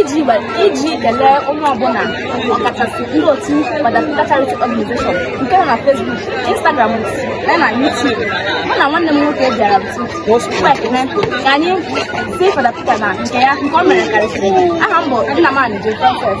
iji iji kelee onye ọbụla ọkachasị ndị otu Fada Peter Charity Organization nke nọ na Facebook, Instagram ya na YouTube mụ na nwanne m nwoke bịara ekene ka anyị sị Fada Peter na nke ya nke o mere karịsịrị aha m bụ Nnamani Jekọfet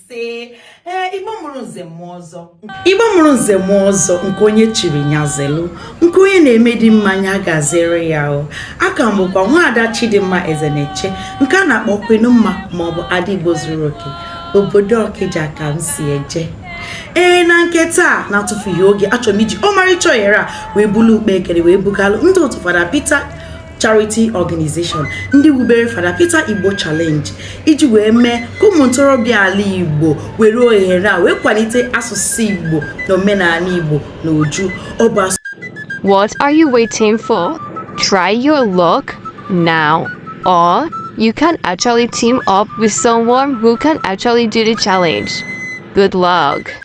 isee igbo mụrụ nze mụọ ọzọ igbo mụrụ nze mụọ ọzọ nke onye chiri nya zelu nke onye na-eme dị mma nya gazere ya o aha m bụkwa nwaada chidimma ezeneche nke a na-akpọ kwenu mma maọbụ ada igbo zuru oke obodo ọkịja ka m si eje ee na nke taa na-atụfughị oge achọrọ m iji ọmarịcha ohere a wee bulu ụkpa ekele wee bugalụ ndị otu fada Peter charity organization ndị wubere Fada Peter Igbo Challenge iji wee mee ka ụmụ ntorobịa ala Igbo were ohere a wee kwalite asụsụ Igbo na omenala Igbo na uju ọ bụ What are you waiting for? Try your luck now or you can actually team up with someone who can actually do the challenge. Good luck.